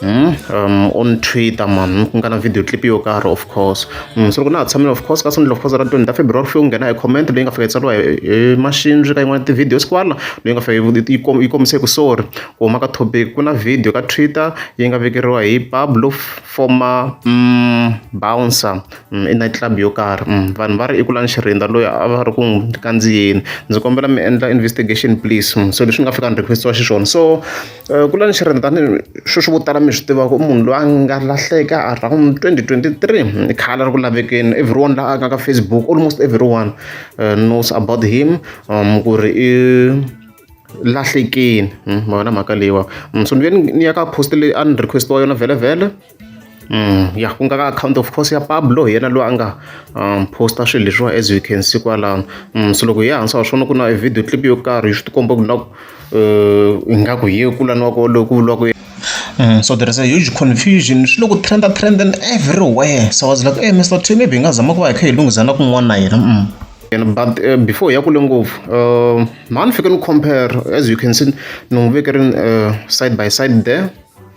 Hmm? Um, on twitter man ku nga na video clip yo karhi of course mm, so loko na ha tshamile of course ka sendela of course ra 20 ta february fike u nghena hi comment leyi nga fika yi tsariwa hi machine ka yin'wana ti-videos kwala leyi nga fika yi kombise ku sorry ku huma ka topic ku na video ka twitter yi nga vekeriwa hi pablo former mm, bouncer mm, i night club yo karhi mm, vanhu va ri i kulani xirindza loyi a va ri ku n'wi kandziyeni ndzi kombela mi endla investigation please mm, so leswi nga fika ni requestiwa xiswona so Ku la ni xirhendani swi swi vo tala mi swi tivaka i munhu loyi a nga lahleka around twenty twenty three i khale a ri ku lavekeni everyone la a nga ka Facebook almost everyone knows about him ku ri i lahlekile ma vona mhaka leyiwani so ni ve ni ni ya ka post leyi a ni request-iwa yona vhele vhele. Mm, ya ku nga ka account of course ya Pablo hi yena loyi a nga um, posta swilo leswiwa as you can see kwalano mm, so loko hi ya hansi wa swona ku na video clip yo karhi swi tikomba ku na ku eh, ingaku hi ye kulaniwa ko loku vuriwaka Mm, so there is a huge confusion swi loko trend a trend and everywhere so i was like hey, mr t maybe hi nga zama ku va hi kha hi lunghisa na kun'wana na yena mm. And but uh, before ya kule ngopfu uh, mhani fike ni compare as you can see ni n'wi veke ri uh, side by side there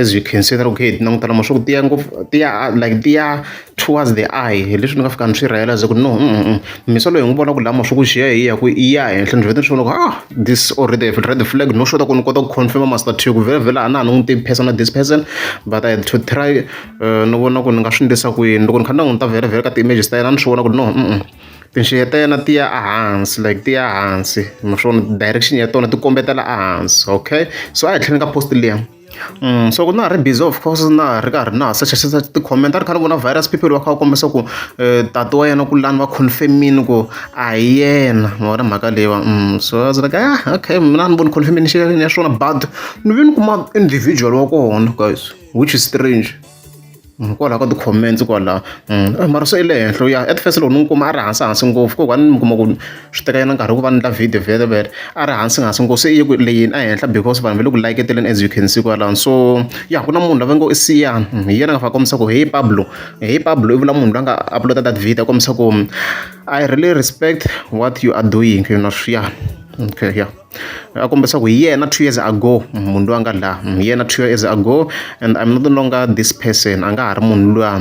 As you can see na loko hi kha hi ti languta lama swa ku tiya ngopfu tiya like tiya towards the eye hi leswi ni nga fika ni swi realize ku no mhisa loyi hi n'wi vona ku lama swa ku xiya hi ya ku i ya henhla ni vheta ni swi vona ku ah this already have read the flag no sure ku ni kota ku confirm master two ku vhela vhela a na ha ni n'wi tivi person this person but I had to try ni vona ku ni nga swi endlisa ku yini loko ni kha ni languta vhela vhela ka ti-images ta yena ni swi vona ku no Tinxeye ta yena ti ya ehansi like ti ya hansi naswona direction ya tona ti kombetela ehansi okay so a hi tlhela ka post liya Mm, so ku na ha ri busy of course na ha ri karhi na ha secha secha ti-comment a ri kha ni vona virus people va kha va kombisa ku um tati wa yena ku lani va confirmini ku a hi yena ma vona mhaka leyi va mm, so a was like ah okay mina a ni voni confirmation ya swona but ni ve ni kuma individual wa kona guys which is strange Hikwalaho ka ti-comments kwala mara swi le henhla u ya at first loko ni n'wi kuma a ri hansi hansi ngopfu ko va ni mi kuma ku swi teka nyana nkarhi ku va ni endla video vhele vhele a ri hansi hansi ngopfu se i ye ku leyini a henhla because vanhu va le ku layeketeleni as you can see kwalano so ya ku na munhu lava ngo i Siyani hi yena a nga fane a kombisa ku he Pablo he Pablo i vula munhu la nga upload that video a kombisa ku I really respect what you are doing swa ya okay ya. a kombisa ku hi yena two years ago munhu loyi a nga la hi yena two years ago and i'm no longer this person a nga ha ri munhu luya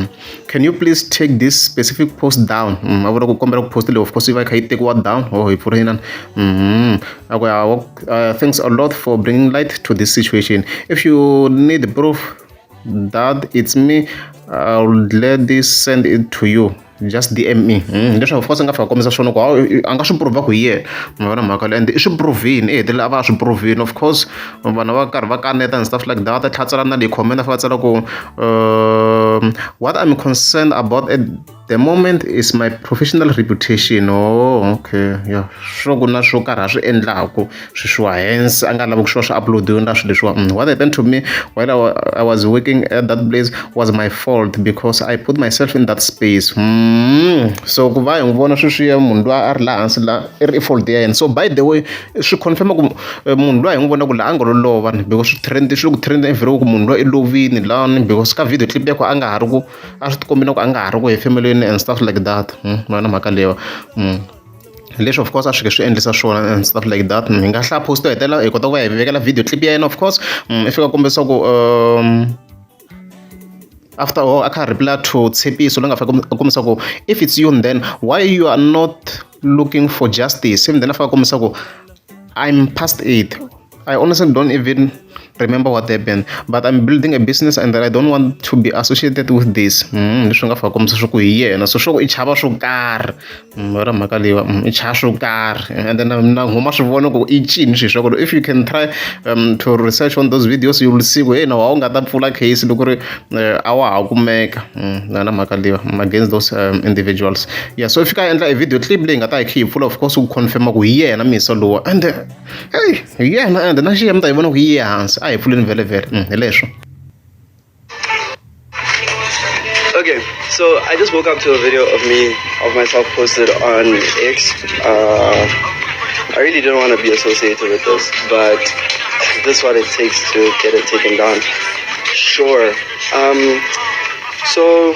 can you please take this specific post down mm, a vula ku kombela ku post leyi of course yi va yi kha yi tekiwa down or oh, hi pfula yinani mm-hmm. a ku ya uh, thanks a lot for bringing light to this situation if you need proof that it's me i'll gladly send it to you just dm me mm, leswaku of course a nga fika kombisa swona ku hawu a nga swi prova ku hi yena mi vona mhaka leyo and i swi provini i hetelela a va a swi provini of course vanhu va karhi va kaneta and stuff like that tlhatsela na leyi comment a fa tsala ku um, what i'm concerned about at the moment is my professional reputation oh okay yeah swo ku na swo karhi a swi endlaku sweswiwa hence a nga lavi ku swi va swi uploadiwe na swilo leswiwa mm, what happened to me while I, was working at that place was my fault because i put myself in that space mm. so ku va hi n'wi vona sweswiya munhu loyi a ri laha hansi la i ri i fault ya yena so by the way swi confirma ku eh, munhu loyi hi n'wi vona ku laha a nga lo lova ni because swi trend swi le ku trend everywhere ku munhu loyi i lovini lani because ka video clip yakho a nga ha ri ku a swi tikombina ku a nga ha ri ku hefemelweni and stuff like that mm. vana mhaka leyiwa mm. Hi leswi of course a swi nge swi endlisa swona and stuff like that hi nga hlaya post yo hetelela hi kota ku va hi vekela video clip ya yena of course i fika kombisa ku after all a kha a reply to tshepiso loyi nga fika a kombisa ku if it's you then why you are not looking for justice then a fika a kombisa ku I'm past it I honestly don't even remember what happened but I'm building a business and that I don't want to be associated with this mm, leswi nga faka komisa swa ku hi yena so swa ku i chava swo karhi mm, ra mhaka leyiwa mm, i chava swo karhi and then um, na huma swi vona ku i cini swi swa ku if you can try um, to research on those videos you will see ku hey na wa u nga ta pfula case loko ri eh, a wa ha kumeka na na mhaka leyiwa against those um, individuals yeah so if ka endla a video clip leyi nga ta hi khe yi pfula of course ku confirma ku hi yena misa lowa and eyi hi yena ende na xiya mi ta yi vona ku yi ye hansi a hi pfuleni vhelevhele mm, hi leswo Okay, so I just woke up to a video of me of myself posted on X. Uh, I really didn't want to be associated with this, but this is what it takes to get it taken down. Sure. Um, so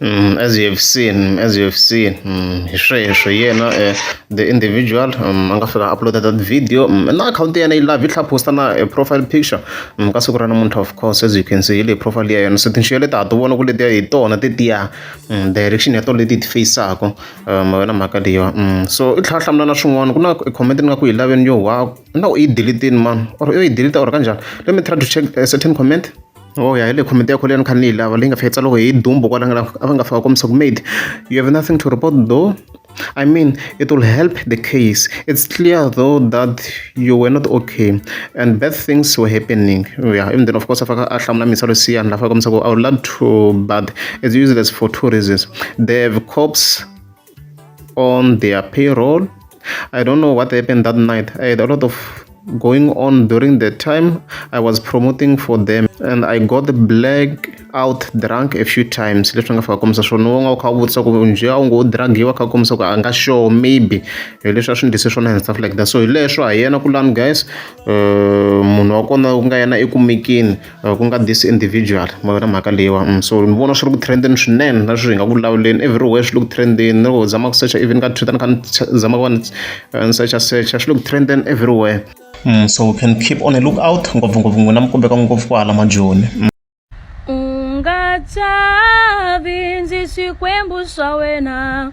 Mm, as you have seen mm, as you have seen mm, hi sweswo yena eh, the individual mm, a nga fika uploada that video mm, na akhawunti ya yena yi lavi yi tlha posta na eh, profile picture mm, ka siku ra namuntlha of course as you can see hi le profile ya yena so tinxiyo leti ha ti vona ku letiya hi tona tetiya mm, direction ya tona leti hi ti faceaka um, wena mhaka leyiwa mm, so i tlha hlamula na swin'wana ku na comment ni nga ku yi laveni yo wa na u yi delitini mani or u yi delita or kanjhani let me try to check a certain comment Ho ya hi le committee ya khale a ni kha ni yi lava leyi nga fika yi tsariwe hi dumbu kwala nga a va nga fika va kombisa ku made you have nothing to report though I mean it will help the case it's clear though that you were not okay and bad things were happening ya ivi then of course a faka a hlamula mintshwa lesiyani laha a faka kombisa ku I would love to but it's useless for two reasons they have cops. on their payroll i don't know what happened that night i had a lot of going on during the time i was promoting for them and i got the black out drunk a few times leswi nga fika komisa swona u nga u kha u vutisa ku njhe a wu ngo dragiwa kha komisa ku a nga sure maybe hi leswi a swi ndlise swona and stuff like that so hi leswo hi yena kulani guys um munhu wa kona ku nga yena ekumekeni ku nga this individual ma vona mhaka leyiwani so ni vona swi ri ku trend-eni swinene na sweswi hi nga ku lawuleni everywhere swi le ku trend-eni ni loko u zama ku secha even ka Twitter ni kha ni zama ku va ni ni secha secha swi le ku trend-eni everywhere Mm, so we can keep on a look out ngopfungopfu n'wina mi kombeka ngopfu kwala majoni mm. ungachavi ndzi swikwembu swa wena